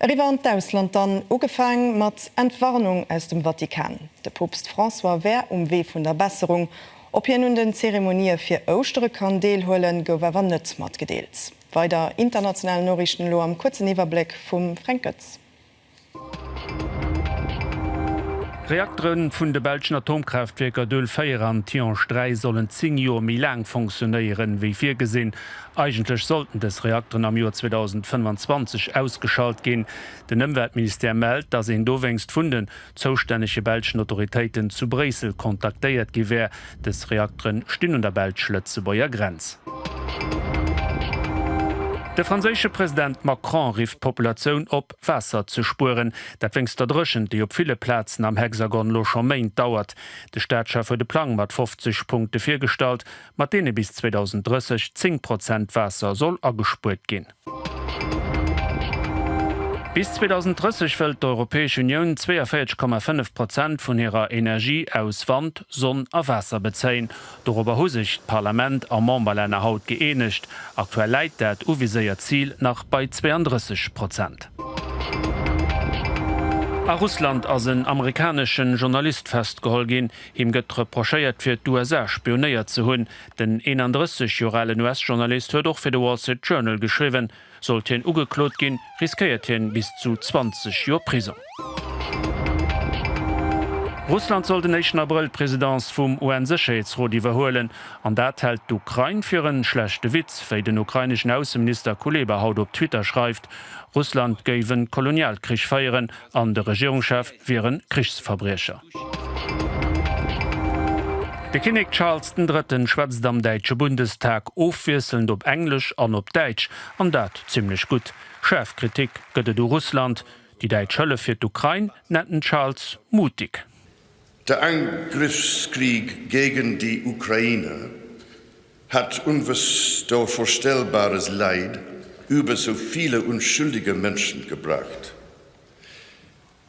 Eriwwer an d'Ausland dann, ugefaang mat Entwarnung aus dem Vatikan, de Poopst François wär um Wee vun der Besserung. Ob hien un den Zeremonië fir Ouschtere kann deelhuelen, gouf awer net matgedeelt. Weider international Noriichten elo am kuerzen Iwwerbléck vum Fränk Goetz. Reaktere vun de belschen Atomkraaftwierker Doel 4 an Tihange 3 sollen 10 Joer méi laang fonctionéieren, ewéi virgesinn. Eigentlech sollten dës Reakteren am Joer 2025 ausgeschalt ginn. Den Ëmweltministère mellt, datt een dowéinst vun den zoustännege belschen Autoritéiten zu Bréissel kontaktéiert gi wär. Dës Reaktere stinn un der belsch-lëtzebuerger Grenz. De franséische President Macron rifft d'Populatioun op, Waasser ze spueren. Dat wéinst der Dréchent, déi op ville Plazen am Hexagon lo scho Méint dauert. De Staatschef huet e Plang mat 50 Punkte virgestallt. mat deene bis 2030 zéng Prozent Waasser soll agespuert ginn. Bis 2030 wëllt d'Europäesch Unioun 42,5 Prozent vun hirer Energie aus Wand, Sonn a Waasser bezéien. Dorobber hu sech d'Parlament a Memberlänner haut gëeenegt. Aktuell läit dat uviséiert Zil nach bei 32 Prozent. A Russland ass en amerikanesche Journalist festgeholl ginn. Him gëtt reprochéiert, fir d'USA spionéiert ze hunn. Den 31 Joer alen US-Journalist huet och fir de Wall Street Journal geschriwwen. Sollt hien ugeklot ginn, riskéiert hien bis zu 20 Joer Prisong. Russland soll den éischten Abrëll d'Presidence vum UN-Sécherheetsrot iwwerhuelen. An dat hält d'Ukrain fir en schlechte Witz, wéi den ukraineschen Ausseminister Kuleba haut op Twitter schreift. Russland géif en Kolonialkrich féieren an de Regierungschef wier en Krichsverbriecher. De Kinnek Charles den Drëtten schwätzt am däitsche Bundestag, ofwiesselnd op Englesch an op Däitsch, an dat zimmlech gutt. Schaarf Kritik gëtt et u Russland. Déi däitsch Hëllef fir d'Ukrain nennt den Charles mutig. De Angriffskrieg gegen die Ukraine hat unvstorstellbares Leid über so viele unschuldige Menschen gebracht.